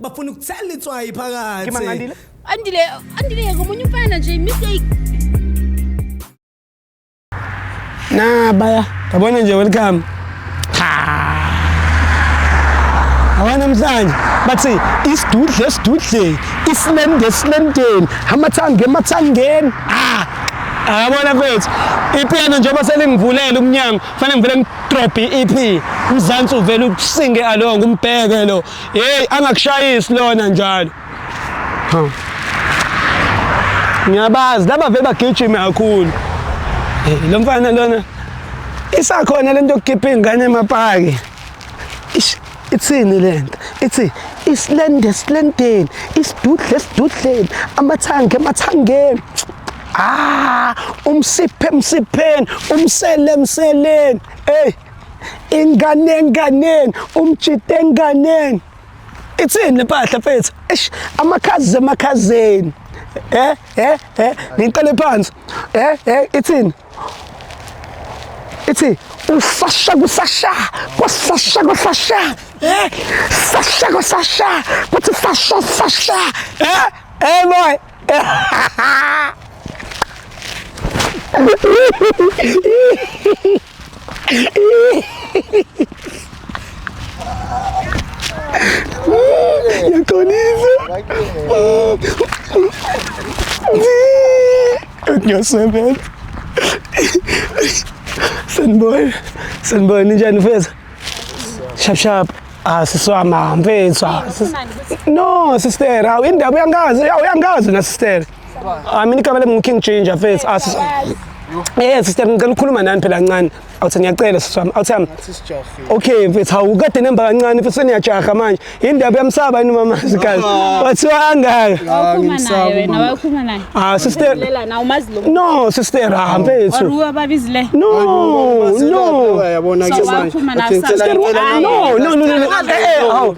bafuna ukuthela itswayi phakathi Kima ngandile. andile andile yeka omunye umfana nje mistake Na baya. Yabona nje welcome. Abana mhlanje bathi isidudle esidudleni, isilende esilendeni, amathange emathangeni. Ah! Ayabona kwethu. Ipiano njengoba selingivulela umnyango, fanele ngivele ngidrop i-EP. Umzansi uvele ukusinge along umbheke lo. Hey angakushayisi lona njalo. Ha. Ngiyabazi laba vele bagijime kakhulu. Hey lo mfana lona isakhona lento yokukhipha ingane emapaki. Ish ithini lento? Ithi isilende esilendeni, isidudle esidudleni, amathange emathangeni. Ah, umsiphe emsipheni, umsele emseleni. Hey ingane enganeni umjita enganeni ithini le mpahla mfethu eish amakhazi emakhazeni eh eh eh ngiqale phansi eh eh ithini ithi usasha kusasha kwasasha kwasasha eh sasha kwasasha kuthi sasha sasha eh eh boy Yakhonisa. Ngiyasebenza. Sanibona. Sanibona ninjani mfethu? Shap shap. Ah siswama mfethu. No sister, awu indaba uyangazi, uyangazi na sister. Ah mina igama lami ngiKing Ginger mfethu. Asi ah, Eh sister ngicela ukukhuluma nani phela kancane. Awuthi ngiyacela siswami. Awuthi yami. Okay mfethu hawu kade nemba kancane futhi seniyajaha manje. Indaba yamsaba yini mama sikazi. Wathiwa angaka. Awukhuluma naye wena wakhuluma naye. Ah sister. Lela na umazi lo. No sister ha mfethu. Waruwa babizile. No no. Yabona ke manje. Sister no no no. Eh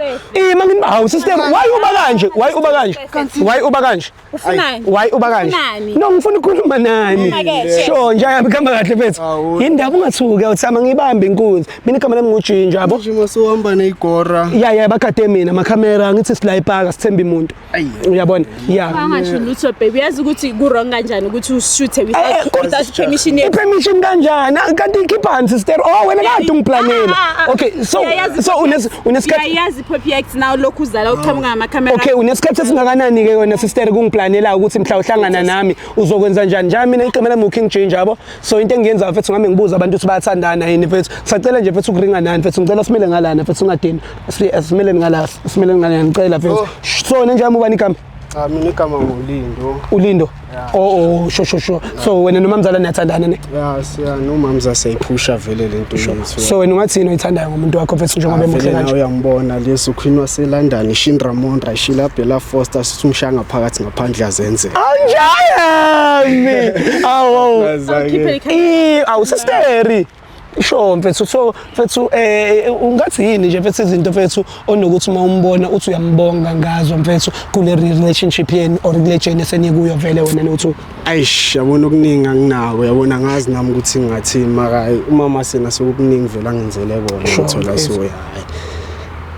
eh. Eh mangini hawu sister why uba kanje? Why uba kanje? Kanti Why uba kanje? Ufunani? Why uba kanje? Ufunani? No ngifuna ukukhuluma nani. Uma ke, shit. Sho nje ayabe khamba kahle mfethu. Awu. Yindaba ungathuki awuthama ngibambe inkunzi. Mina igama lami ngujinja yabo. manje masuhamba neyigora. Ya ya bakade mina makamera ngithi sila ipaka sithemba imuntu. Ayi. Uyabona? Ya. Angasho lutho baby yazi ukuthi ku wrong kanjani ukuthi ushuthe Eh, eh, without without permission yakho. Ipermission kanjani? Ah, Kanti ikhipha sister. Oh wena kade ungiplanela. Ah, ah, ah. Okay, so Yeah, yazi- so unes unesikhathi Yayazi Perfect now lokhu uzala uqhamuka ngama camera. Okay unesikhathi esingakanani ke wena sister kungiplanela ukuthi mhla uhlangana nami uzokwenza njani njalo mina iqembu lami uKing Ginger yabo so into engiyenza mfethu ngame ngibuza abantu ukuthi bayathandana yini mfethu sacela nje mfethu ukuringa nani mfethu ngicela simele ngalana mfethu ungadini simele ngala simele ngala ngicela mfethu oh. so nenjami ubani igama Cha mina igama nguLindo. ulindo Yeah. oh oh sho sho sho so wena nomamzala niyathandana ne Ya siya nomamza seyiphusha vele lento yethu. so wena ungathini oyithandayo ngomuntu wakho mfethu njengoba emuhle Vele nawe kanje uyambona leso Queen waseLondon Shin Ramon Rashila Bella Foster sisumshanga phakathi ngaphandle azenze. anjayami awu Khiphe ikhanda. Eh, awusisteri sure mfethu so mfethu eh, eh ungathi yini nje mfethu izinto mfethu onokuthi uma umbona uthi uyambonga ngazo mfethu kule relationship yenu or kule journey senikuyo vele wena nothu ayish yabona okuningi anginako yabona ngazi nami ukuthi ngathi maka umama sena sokuningi vele angenzele kona ngithola so hayi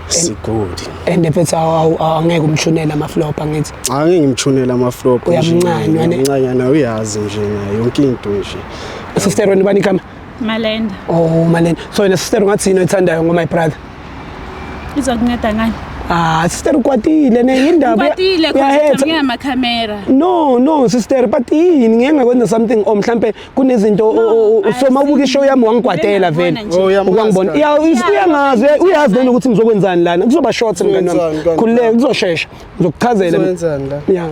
sigodi and mfethu angeke umshunela ama flop angithi angeke ngimshunela ama flop uyamncanywa uyamncanywa uyazi nje yonke into nje sister wena ubani igama malenda oh malenda so yena sister ungathi yini oyithandayo ngo my brother izokunceda ngani Ah, sister ukwatile ne indaba. Ukwatile kodwa ngiyama camera. No, no sister, but yini ngeke ngakwenza something or mhlambe kunezinto usoma ubuka show yami wangikwatela vele. Oh, Uyangibona. Ya uyangazi, uyazi nini ukuthi ngizokwenzani lana. Kuzoba short mngani wami. Khululeka kuzoshesha. Ngizokuchazela. Ngizowenzani la? Yeah.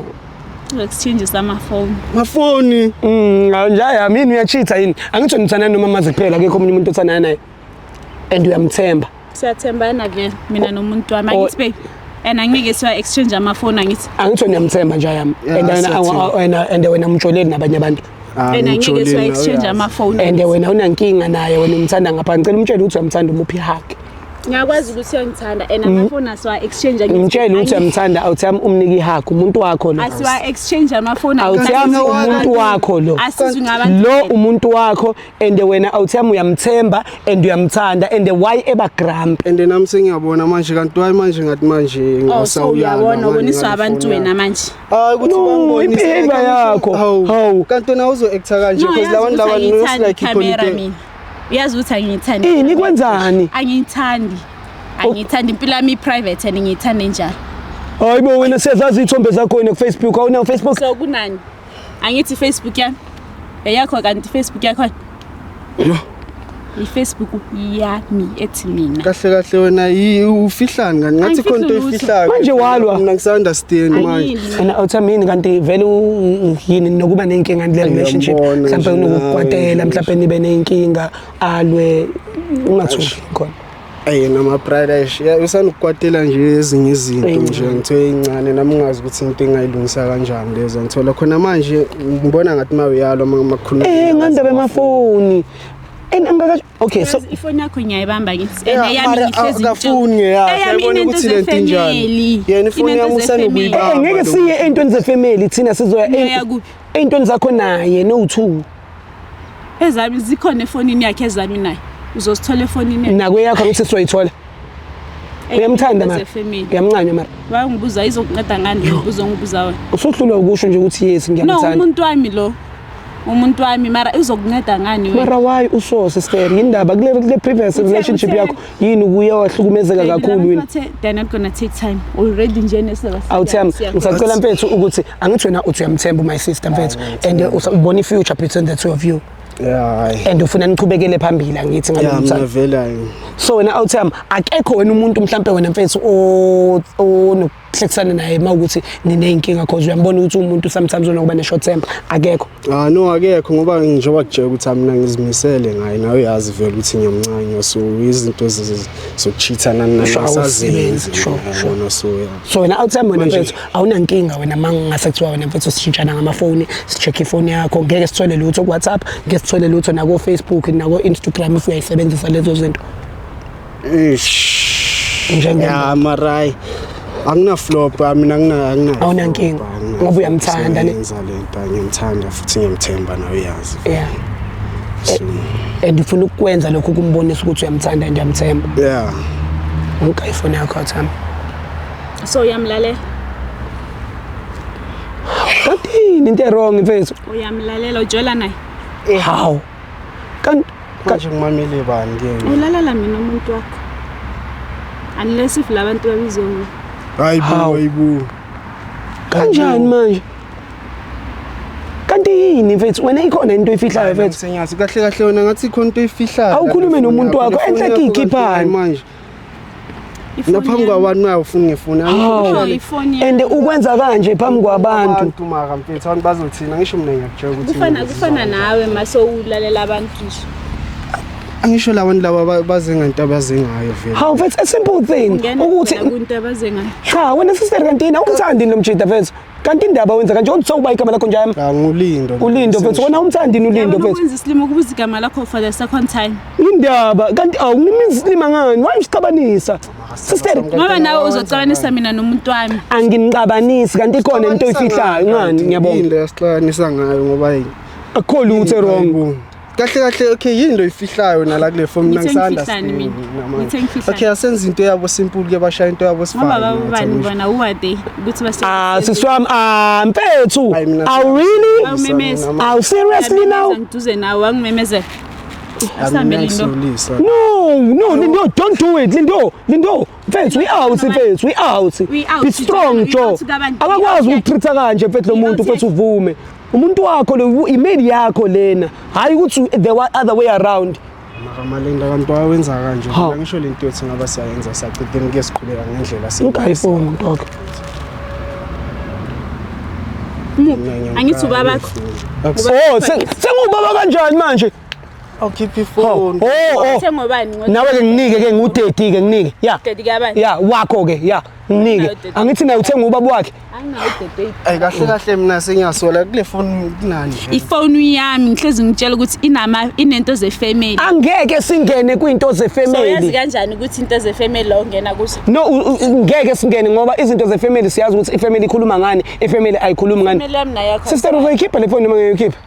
Ngokuthinjisa amafoni. Mafoni. Mm, njaya mina uyachitha yini? Angitsho ngithanda noma mazi kuphela akekho omunye umuntu othanda naye. And uyamthemba. Siyathembana vele mina nomuntu wami. Angithi babe. And angeke siwa exchange amafoni angithi. Angitsho ngiyamthemba njaya. And wena and wena mjoleli nabanye abantu. Ah, and angeke siwa exchange ama phone and wena unankinga naye wena umthanda ngapha ngicela umtshele ukuthi uyamthanda umuphi hug ngiyakwazi ukuthi uyangithanda and mm. amafoni asiwa exchange ngimtshele ukuthi uyamthanda awuthami umnike ihug umuntu wakho lo asiwa exchange amafoni awuthami umuntu wakho lo lo umuntu wakho and wena awuthami uyamthemba and uyamthanda and why eba grump and nami sengiyabona manje kanti why manje ngathi manje oh, ngisawuyabona uboniswa abantu wena manje Hayi ukuthi No, bangibonise. i-behavior Kanti usho- yakho. Hawu. Hawu. Kanti wena uzo actor kanje No, because yazi labantu ukuthi laba angiyithandi looks like i-camera ikhonite. mina. Uyazi ukuthi angiyithandi. Ini kwenzani? Angiyithandi. Angiyithandi impilo yami i-private and ngiyithanda enjalo. Hayi bo wena siyazazi ithombe zakho wena kuFacebook awunayo Facebook. So kunani? Angithi Facebook yami. Eyakho kanti Facebook yakho. Yo. IFacebook yami ethi mina. Kahle kahle wena yi- ufihlani kanti ngathi Angifihli khona into lutho. oyifihlayo. Manje walwa. Mina ngisa-understand manje. Angiyini. And awutha mini kanti vele u- yini nokuba nenkinga kule relationship Ngiyambona mhlawumbe nje unokukwatela nawe, mhlawumbe nibe nenkinga alwe ungathuki khona Eyi nama pradash usanokukwatela nje ezinye izinto nje ngithiwe incane nami ngazi ukuthi into engayilungisa kanjani lezo ngithola khona manje ngibona ngathi uma uyalo makukhuluma eh ngandaba emafoni and angaka okay so ifoni yakho ngiyayibamba ngithi and yami ngihlezi ngafuni ngiyaya yabona ukuthi lento injani yena ifoni yami usanokuyibamba eh, ngeke siye entweni zefamily thina sizoya entweni zakho naye no two Ezami zikhona efonini yakhe ezami naye. Uzosithola efonini yakhe. Nakwe yakho ngithi sizoyithola. Uyamthanda mara. Uyamncanywa mara. Wayengibuza izokunceda ngani ngibuza ngibuza wena. Usuhlulwa ukusho nje ukuthi yes ngiyamthanda. No umuntu wami lo. Umuntu wami mara uzokunceda ngani wena? Mara why usose sister indaba kule kule previous relationship yakho yini kuye wahlukumezeka kakhulu yini they're not gonna take time already nje nesizaba awuthemba ngisacela mfethu ukuthi angithi wena uthi uyamthemba my sister mfethu and ubona i future between the two of you Yeah. And ufuna niqhubekele phambili angithi ngalo mthatha. Yeah, ngivelayo. So wena awutham akekho wena umuntu mhlambe wena mfethu o hlekisane naye uma ukuthi niney'nkinga cause uyambona ukuthi umuntu sometimes unokuba ne-short temper akekho ah no akekho ngoba njengoba kutshela ukuthi mina ngizimisele ngaye nawe uyazi vele ukuthi ngiyamncanywa so izinto zokuchithana nanasazenzi shona so so wena outside wena mfethu awunankinga wena ma ngingase kuthiwa wena mfethu sishintshana ngamafoni si-check-e ifoni yakho ngeke sithole lutho ku-whatsapp ngeke sithole lutho nako-facebook nako-instagram if uyayisebenzisa lezo zinto Eish. Njengento. Ya marai. Angina flop mina ngina angina. Awunankinga. Ngoba uyamthanda ne. Ngenza lento ngimthanda futhi ngimthemba nawe uyazi. Yeah. And ufuna ukwenza lokho kumbonisa ukuthi uyamthanda and uyamthemba. Yeah. Ngika ifoni yakho Thami. So uyamlalela? Kathini into wrong mfethu? Uyamlalela ujola naye? How? kanti kanje ngimamele bani ke ulalala mina umuntu wakho unless if labantu babizwe mina hayi bo hayi bo kanjani manje kanti yini mfethu wena ikhona into oyifihlayo mfethu senyazi kahle kahle wena ngathi ikhona into oyifihlayo awukhulume nomuntu wakho enhle kikhiphani manje naphambi kwabantu nayo ufuna ngifuna and ukwenza kanje phambi kwabantu maka mfethu abantu bazothina ngisho mina ngiyakutshela ukuthi kufana kufana nawe maso ulalela abantu nje angisho labantu laba baze ngento abaze ngayo vele hawu mfethu a simple thing ukuthi kunto abaze ngayo cha wena sister kanti awumthandi lo mjida mfethu kanti indaba wenza kanje uthi sokuba igama lakho njami cha ngulindo ulindo mfethu wena umthandini ulindo mfethu ukwenza isilima ukubuza igama lakho for the second time indaba kanti awunimiza isilima ngani why usixabanisa sister ngoba nawe uzocabanisa mina nomuntu wami anginicabanisi kanti ikhona into oyifihlayo ngani ngiyabonga into yasixabanisa ngayo ngoba yini akukho lutho wrong kahle kahle okay yini loyifihlayo nala kule form mina ngisanda okay asenza into yabo simple ke bashaya into yabo sifani bona uwade ukuthi base ah siswam ah mfethu awu really awu seriously now ngiduze nawe angimemezela no no lindo don't do it lindo lindo mfethu i-out mfethu i-out We out. be strong We jo out kabantu. akakwazi We out. ukutreat-a kanje mfethu lo We muntu out. mfethu uvume umuntu wakho le imeli yakho lena hhayi ukuthi the wa- other way around Makamalenda kanti wawenza kanje. Ha. Mina ngisho lento yothi ngaba siyayenza saqedeni kuye siqhubeka ngendlela si. ugayi foni mntu wakho Muphi? Angithi ubaba wakho. Akusi- oh se- sengubaba kanjani manje awukhiphe ifoni oh, oh. uthengwe bani nawe ke nginike ke ngu-30 ke nginike ya ya wakho ke ya nginike angithi naye uthenge ubaba wakhe ayi kahle kahle mina sengiyasola kule foni kunani ifoni yami ngihlezi ngitshela ukuthi inama inento zefamily angeke singene kwinto zefamily so yazi kanjani ukuthi into zefamily la ungena kuzo no ngeke singene ngoba izinto zefamily siyazi ukuthi ifamily ikhuluma ngani ifamily ayikhulumi ngani sister uzoyikhipha le foni noma ngiyoyikhipha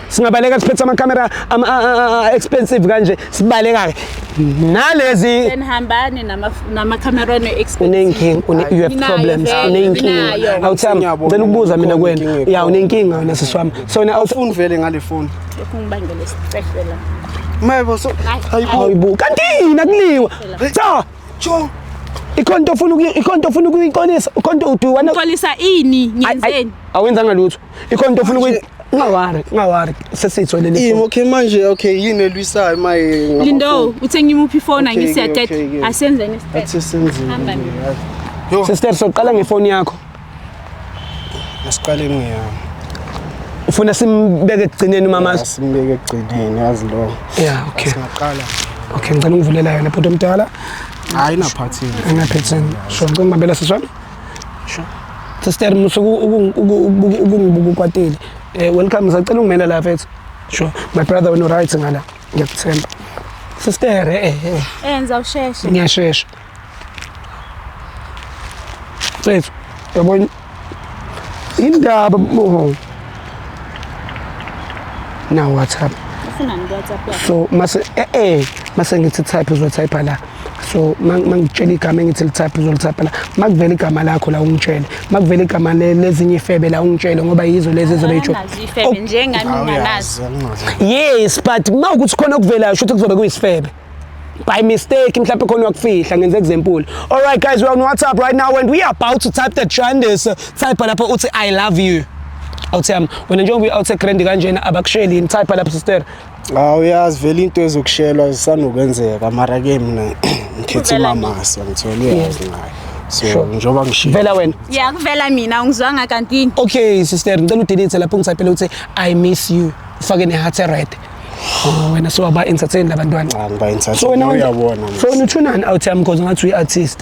singabaleka siphethe amakamera expensive kanje sibaleka-ke nalezi hambani namakamera unenkinga you have problems unenkinga awuthami ngicela ukubuza mina kwena ya unenkinga wena sisi wami so na awufuni vele ngale foni ungibangele isicehlela mayebo so hayibo kanti yini akuliwa cha cho ikhonto ofuna ikhonto ofuna ukuyiqolisa ikhonto uduwana uqolisa ini ngenzeni awenzanga lutho ikhona into ofuna ukuthi ungawari ungawari sesitho leli yini okay manje okay yini elwisayo maye lindo uthenge imuphi ifoni angisiyaqeda asenze nesiqeda athi senzile yo sister soqala ngefoni yakho asiqale ngiyami ufuna simbeke ekugcineni umama simbeke ekugcineni yazi lo yeah okay singaqala okay ngicela ungivulela yona bhuti omdala hayi naphathini ngaphathini sho ngicela umabela siswami Sure. Sister musuku ukungibuka ukwatile. Eh welcome sacela ungimela la mfethu. Sure. My brother wena right ngala. Ngiyakuthemba. Sister eh eh. eh. eh enza usheshe. Ngiyashesha. Mfethu yabona indaba oh. na WhatsApp. Ufuna ni WhatsApp? So mase eh eh mase ngithi type uzwa type la. so mangitshela igama engithi lithaphe uzolithapha la makuvela igama lakho la ungitshele makuvela igama lezinye ifebe la ungitshele ngoba yizo lezi ezobe yitsho oh. njengami nganazo yes but uma ukuthi khona okuvelayo shuthi kuzobe kuyisifebe by mistake mhlawumbe khona wakufihla ngenze example all right guys we're on whatsapp right now and we are about to type the trenders type lapho uthi i love you awuthi yami wena njengoba uyi-out egrand kanjena abakusheli yini type lapho sister Hawu uyazi vele into ezokushelwa zisanokwenzeka mara ke mina ngikhethe Kuvela nini? umamasa ngithole uyazi ngayo so Sure. njengoba ngishiya vela wena ya kuvela mina ungizwanga kanti yini okay sister ngicela udelete lapho ngisaphela ukuthi i miss you ufake ne-heart red Oh, wena sowaba-entertain labantwana cha ngiba so wena entertain uyabona so wena uthunani out yami because ngathi uyi-artist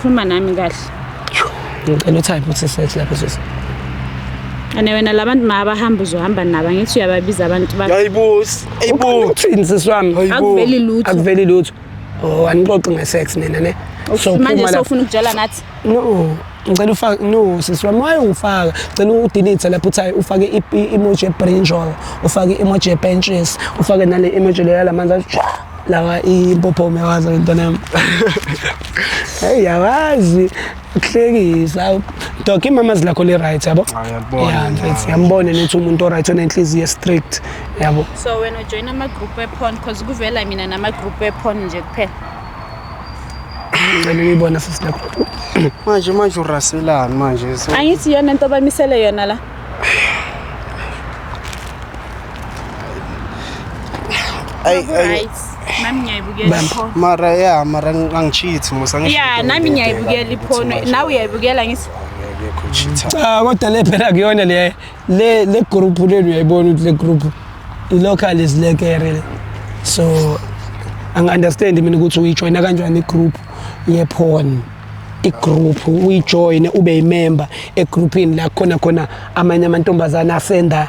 khuluma nami kahle ngicela uthi ayibuthi sethi lapho sisi ane wena labantu mabahamba uzohamba nabo angithi uyababiza abantu ba yayibusi uthini sisi wami akuveli lutho akuveli lutho oh anixoxi ngesex nina ne so manje sofuna ukujala ngathi no ngicela ufake no sisi wami waye ufaka ngicela udelete lapho uthi ufake i-emoji ebrinjol ufake i-emoji ebenches ufake nale emoji leyo lamanzi lawa impophome wazo intwana yami hey yawazi ukuhlekisa dog imama zilakho li right yabo Ah, ngiyakubona, yeah mfethu yeah. yambone nethi umuntu o right onenhliziyo strict yabo so wena ujoyina amagroup ephon because kuvela mina namagroup ephon nje kuphela ngicela uyibona sesilakho manje manje uraselani manje so angithi iyona into bamisele yona la Ay, ay, Right. Nami ngiyayibukela pho. mara ya mara angichithi musa ngisho Yeah, into nami ngiyibheka, ngiyayibukela ngithi iphono. manje, Nawe uyayibukela ngisi. akekho cheater. cha Ah, kodwa le phela kuyona le le le group lenu uyayibona ukuthi le group i local is lekere le so angi understand mina ukuthi uyijoina kanjani i group ye porn i group uyijoine ube i member e groupini la khona khona amanye amantombazana asenda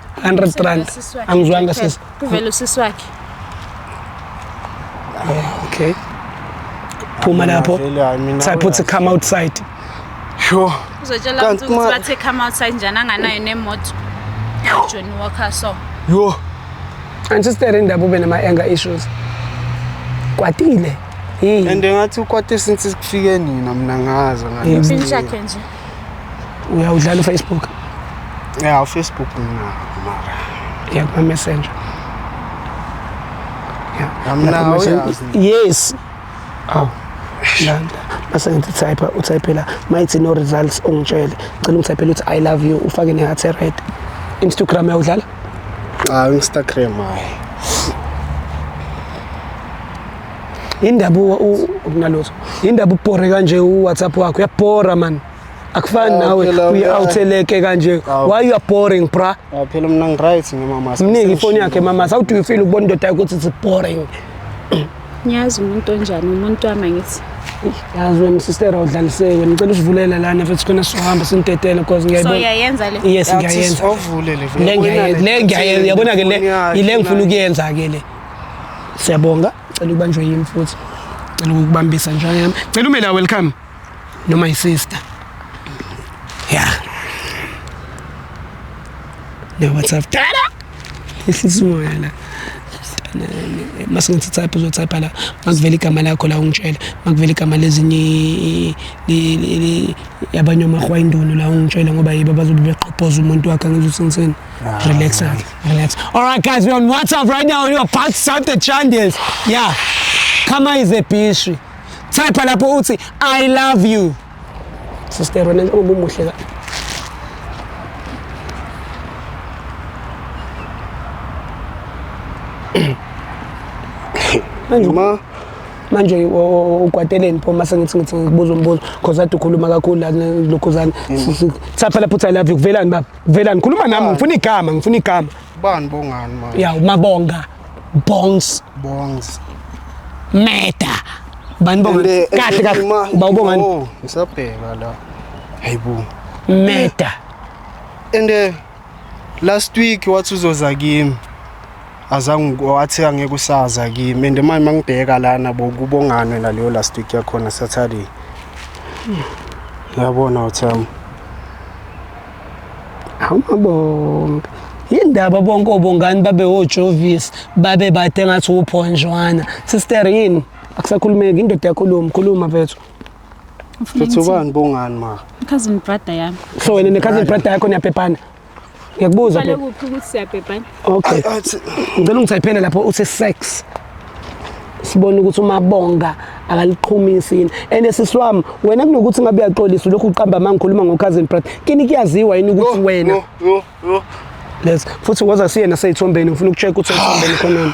100 rand angizwanga sisi kuvela usisi wakhe oh, okay phuma lapho so i put to come outside sure uzotshela ukuthi bathe come outside njani anganayo nemoto John Walker so yo antistere indaba ube nama anger issues kwatile and ngathi ukwate since sikufike nina mina ngazo ngani nje uyawudlala ufacebook ya ufacebook mara ya kumamessenger yes aw landa base ngithi type utypela mayithi no results ungitshele cela ungitypele ukuthi i love you ufake ne heart red instagram uyawudlala cha instagram hayi indaba unalutho indaba ubhore kanje uwhatsapp wakho uyabhora mani akufani nawe uyi-outheleke kanje why you are boring bra phela mna ngiright ngimama mningi ifoni yakhe mama how do you feel ukubona indoda yakho ukuthi it's boring ngiyazi umuntu onjani umuntu wami angithi yazi wena sistera udlaliseke wena ngicela usivulela lana futhi khona sizohamba sinidedele because ngiyayibona so uyayenza le yes ngiyayenza le ngiyayenza yabona ke le ile ngifuna ukuyenza ke le Siyabonga, cela ubanjwe yimi futhi. Cela ukubambisa njalo yami. Cela ume la welcome. No my sister. Yeah. No what's up? Tala. Ihliziyo yala. masingithi type uzotype la makuvela igama lakho la ungitshela makuvela igama lezinye yabanye omahwa induno la ungitshela ngoba yibo abazobe beqhophoza umuntu wakhe angizuthi ngiseni relax-ke Relax. All right, guys, we're on WhatsApp right now. We're about to start the chandles. Yeah. Kama is a pastry. Type lapho uthi I love you. Sister, wena njengoba umuhle ka. Manje Ma, manje ukwateleni pho mase ngithi ngithi ngibuza umbuzo because ade ukhuluma kakhulu la lokhuzana. Type lapho uthi I love you. Kuvelani baba? Vela ngikhuluma nami ngifuna igama ngifuna igama. Bani bongani manje? Ya umabonga bongs bongs. Meta. Bani bonga eh, eh, kahle kahle eh, bawubongani? Oh, ngisabheka la. Hayibo. Meta. And uh, last week wathi uzoza kimi. azange wathi angeke usaza kimi and manje mangibheka lana bo kubonganwe naleyo last week yakhona Saturday yabona uthami amabonke yindaba bonke obongani babe ojovis babe bade ngathi uphonjwana sister yini akusakhulumeki indoda yakhuluma khuluma vethu Futhi ubani bongani ma? Cousin brother yami. So wena ne cousin brother yakho niyabhebhana? ngiyakubuza Uqale kuphi ukuthi siyabhebhana? okay ngicela ungithayiphele lapho uthi sex sibone ukuthi umabonga akaliqhumisi yini and sisi wami wena kunokuthi ngabe uyaxolisa lokhu uqamba uma ngikhuluma ngo-cousin brat kini kuyaziwa yini ukuthi wena Yo, yo, yo. les futhi ngoza siye naseyithombeni ngifuna uku-check ukuthi eyithombeni khonani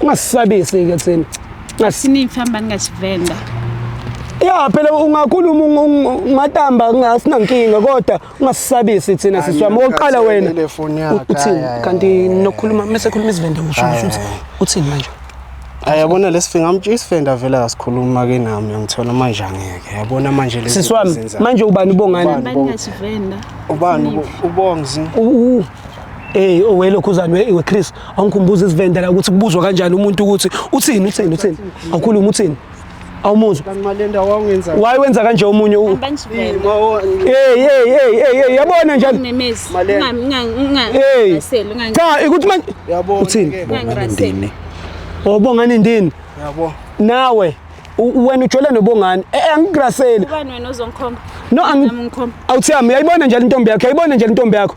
ungasisabisi-ke thina ngasiningi famba ningasivenda ya phela ungakhuluma ungatamba ngasinankinga kodwa ungasisabisi thina sisi wami oqala wena uthini kanti nokhuluma mese khuluma izivende usho ukuthi uthini manje ayabona lesifinga mntu isifenda vele asikhuluma ke nami ngithola manje angeke yabona manje lesi sisi wami manje ubani ubongani ubani ubongi ubongi eh owelokhu uzalwe iwe Chris awungikhumbuza isivenda la ukuthi kubuzwa kanjani umuntu ukuthi uthini uthini uthini awukhuluma uthini awumuzwa waye wenza kanje omunye yabona njani cha ikuthi manje uthini ndini obongani ndini nawe wena ujole nobongani eh, eh, angigraseli no awuthi yami yayibona njalo intombi yakho yayibona njalo intombi yakho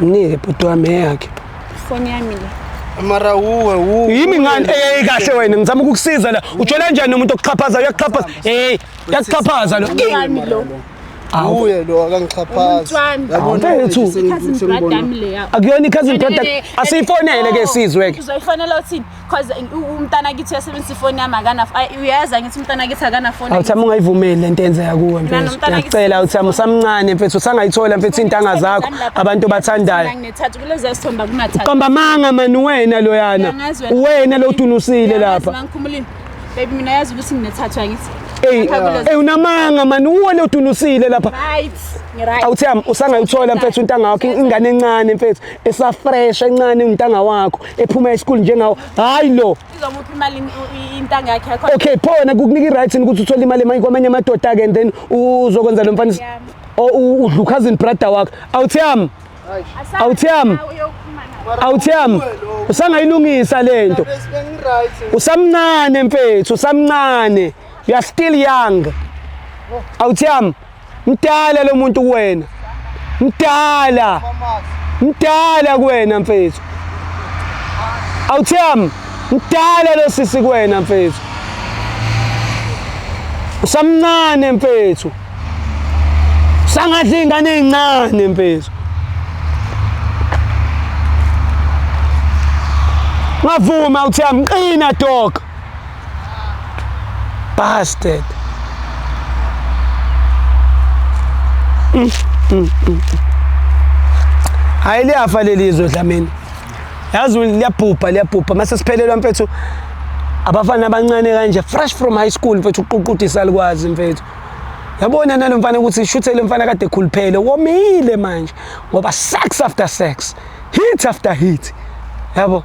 Nike bhuti wami eyakhe. Ifoni yami le. Mara uwe uwe. Yimi ngani hey kahle wena ngizama ukukusiza la. Ujola kanjani umuntu okuxhaphaza uyakuxhaphaza. Hey, uyakuxhaphaza lo. Yami lo. Awuye lo akangixhaphazi. Yabona wethu sengibona. Akuyona i cousin brother. Asiyifonele ke sizwe ke. Uzoyifonela uthini? cause umntana kithi uyasebenzisa ifoni yami akana uyayazi ngithi umntana kithi akana foni awuthami ungayivumeli lento enzeka kuwe mfethu ngiyacela uthami usamncane mfethu usangayithola mfethu intanga zakho abantu bathandayo nginethathu kulezi sithomba kunathathu qamba manga mani wena loyana wena lo utunusile lapha ngikhumulile baby mina yazi ukuthi nginethathu angithi Hey, hey unamanga mani uwe lo utunusile lapha. Right. Awuthami usangayithola mfethu intanga yakho ingane encane mfethu esafresh encane umntanga wakho ephuma esikole njengawo hayi lo izomupha imali intanga yakhe yakho okay pho wena kukunika i-rights ukuthi uthole imali emanye kwamanye amadoda ke and then uzokwenza lo mfana udla ukhazini brother wakho awuthi yami awuthi yami awuthi yami usangayilungisa le nto usamncane mfethu usamncane you are still young awuthiyami mdala lo muntu kuwena mdala mdala kuwena mfethu awuthiyami mdala lo sisi kuwena mfethu usamncane mfethu sangadla iy'ngane ey'ncane mfethu ngavuma uthi amqina dog Bastard. Mm, mm, mm. Hayi liyafa leli izwe dlamini. Yazi liyabhubha liyabhubha mase siphelelwa mfethu abafana abancane kanje fresh from high school mfethu uququdisa likwazi mfethu yabona nalo mfana ukuthi ishuthele mfana kade ekhuluphele womile manje ngoba sex after sex hit after hit yabo